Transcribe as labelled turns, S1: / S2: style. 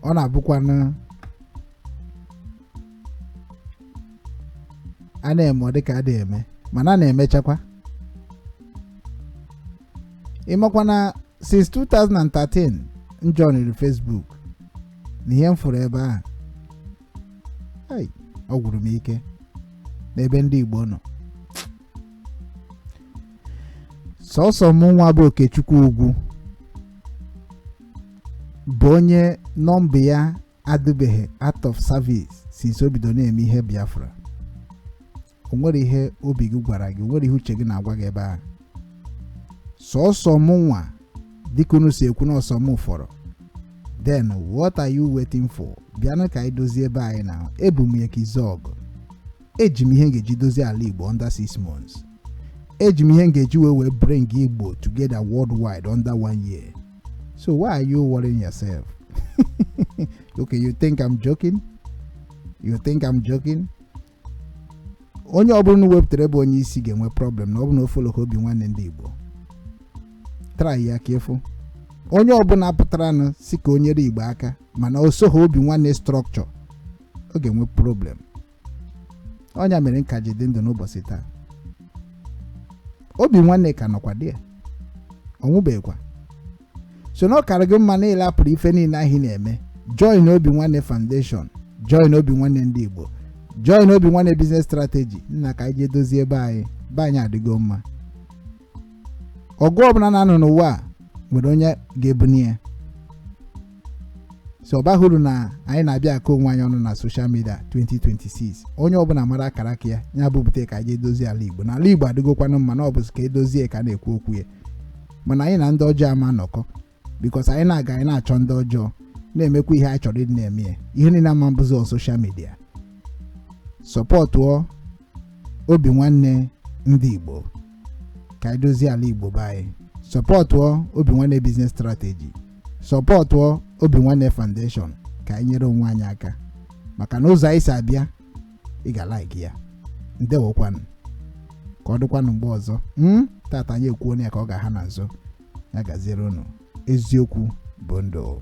S1: ọ na-abụkwanụ a na-eme ọ dịka a dịghị eme mana a na-emechakwa ị makwa na since 2013 m joiniri Facebook na ihe m fụrụ ebe ahụ hei ọ gwụrụ m ike n'ebe ndị Igbo nọ sọsọ m nwa bụ okechukwu ugwu bụ onye nọmba ya adịbeghị out of service since o bido na-eme ihe biafra o nwere ihe obi gị gwara gị o nwere ihe uche gị na-agwa gị ebe ahụ sọsọ m nwa dịka unu si ekwu na ọ sọ m fọrọ then what are you waiting for bịanụ ka anyị dozie ebe anyị na ebu m ya ka izu ọgụ eji m ihe m ga-eji dozie ala igbo under six months eji m ihe m ga-eji wee wee bring igbo together worldwide under one year so why are you worrying yourself okay you think i'm joking you think i'm joking onye ọbụla unu wepụtara bụ onye isi ga-enwe problem na ọ bụ na o followghị obi nwanne ndị igbo try ya ka ị fụ onye ọbụla pụtaranụ sị ka o nyere igbo aka mana o soghị obi nwanne structure ọ ga-enwe problem ọ nya mere m ka ji dị ndụ n'ụbọsị taa obi nwanne ka nọkwadị ya ọ nwụbeghịkwa so na ọ kara gị mma na ị rapụrụ ife niile ahụ ị na-eme join obi nwanne foundation join obi nwanne ndị igbo join obi nwanne business strategy nna ka anyị jee dozie be anyị be anyị adịgo mma ọgụ ọbụla a na-anụ n'ụwa a nwere onye ga-ebuni ya so ọ baghị uru na anyị na-abịa akọ onwe anyị ọnụ na social media 2026 onye ọbụla mara akara aka ya ya bupụta ka anyị jee dozie ala igbo na ala igbo adịgokwanụ mma na ọ bụzi ka e dozie ka a na-ekwu okwu ya mana anyị na ndị ọjọọ ama anọkọ because anyị na-aga anyị na-achụ ndị ọjọọ na-emekwa ihe anyị chọrọ ịdị na-eme ya ihe niile ama abụzi on social media sọpọtụọ obi nwanne ndị igbo ka anyị dozie ala igbo be anyị sọpọtụọ obi nwanne business strategy sọpọtụọ obi nwanne foundation ka anyị nyere onwe anyị aka maka na ụzọ anyị si abịa ị ga-alaiki ya ndewokwanụ ka ọ dịkwanụ mgbe ọzọ m tata anyị ekwuo ya ka ọ ga-aha na nso ya gaziere unu eziokwu bụ ndụ